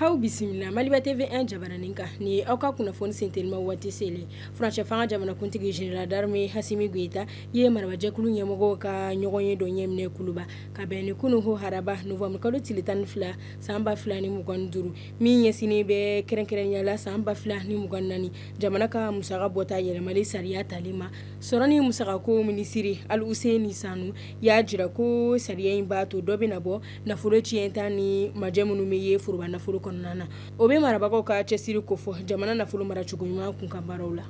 Aw bisimila maliba TV1 jabaranin kan nin aw ka kunnafoni sintinnenma waati selen furancɛfanga jamanakuntigi général d'armée Asimi Goyita ye marajɛkulu ɲɛmɔgɔw ka ɲɔgɔnye dɔ ɲɛminɛ kuluba ka bɛn ni kunun ko haraba nowanburukalo tile tan ni fila san ba fila ni mugan duuru min ɲɛsinnen bɛ kɛrɛnkɛrɛnya la san ba fila ni mugan naani jamana ka musaka bɔta yɛlɛmali sariya tali ma sɔrɔ ni musakako minisiri Aluseni Sanu y'a jira ko sariya in b'a to dɔ bɛ na bɔ nafolo tiɲɛta ni majɛ minnu bɛ ye foroba nafolo kɔnɔna na o bɛ marabagaw ka cɛsiri kofɔ jamana nafolo mara cogo ɲuman kunkan baaraw la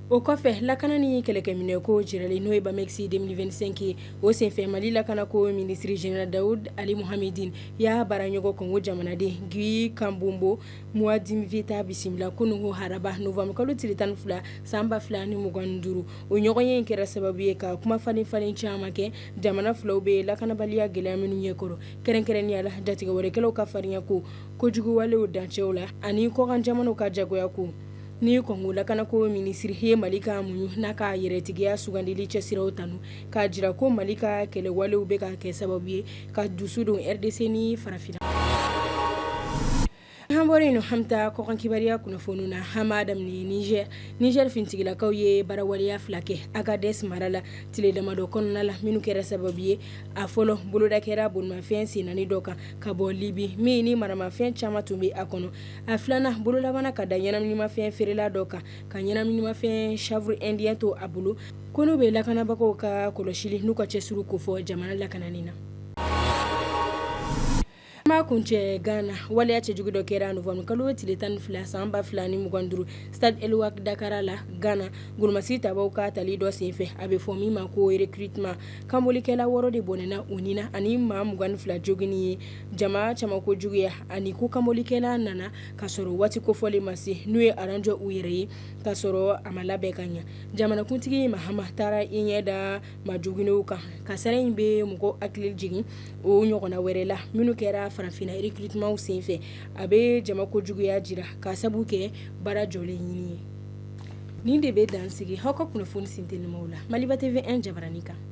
O kɔfɛ lakana ni kɛlɛkɛminɛnko jirali n'o ye BAMEX deux mille vingt-cinq ye o senfɛ mali lakanako minisiri général Daoud Aly Mohammedine y'a baaraɲɔgɔn kɔngo jamanaden Guy Kabombo Muadiamvita bisimila kunun ko haraba nowanburukalo tile tan ni fila san ba fila ni mugan duuru o ɲɔgɔnye in kɛra sababu ye ka kumafalenfalen caman kɛ jamana filaw bɛ lakanabaliya gɛlɛya minnu ɲɛ kɔrɔ kɛrɛnkɛrɛnya la jatigɛwalekɛlaw ka farinyako kojugubawalew dancɛw la ani kɔkan jamanaw ka jagoyako Ni kɔngo lakanako minisiri ye mali ka muɲun n'a ka yɛrɛtigiya sugandili cɛsiriw tanu k'a jira ko mali ka kɛlɛwalew bɛ ka kɛ sababu ye ka dusu don rdc ni farafinna hɔrɔnya hami kɔn kibaruya kunnafoni na hama nizɛr nizɛr finitigilakaw ye baara waleya fila kɛ Agadɛsi mara la tile damadɔ kɔnɔna la minnu kɛra sababu ye a fɔlɔ boloda kɛra bolimafɛn sen naani dɔ kan ka bɔ libi min ni maramafɛn caman tun bɛ a kɔnɔ a filanan bolo labanna ka da ɲɛnaanamafɛn feerela dɔ kan ka ɲɛnaanamafɛn chanvre indien to a bolo ko in bɛ lakanabagaw ka kɔlɔsili n'u ka cɛsiri kofɔ jamana lakanani na an b'a kuncɛ gana waleya cɛjugu dɔ kɛra nowanburukalo tile tan ni fila san ba fila ni mugan duuru stade El-Wak d'Accra la gana kolomasasi ta ka tali dɔ senfɛ a bɛ fɔ min ma ko recrutement kanbolikɛla wɔɔrɔ de bɔnɛna u nin na ani maa 2 fila jogin ye Jama caman ko juguya ani ko kanbolikɛlaw nana k'a sɔrɔ waati kofɔlen ma se n'u ye aran jɔ u yɛrɛ ye k'a sɔrɔ a ma labɛn ka ɲɛ jamanakuntigi Mahama taara i ɲɛ da majoginnenw kan kasaara in bɛ mɔgɔ hakili jigin o ɲɔgɔnna wɛrɛ la minnu kɛra farafinna recrutementw senfɛ a bɛ jama ko juguya jira ka sabu kɛ baara jɔlen ɲini ye nin de bɛ dan sigi aw ka kunnafoni sintin la maliba TV1 jabaranin kan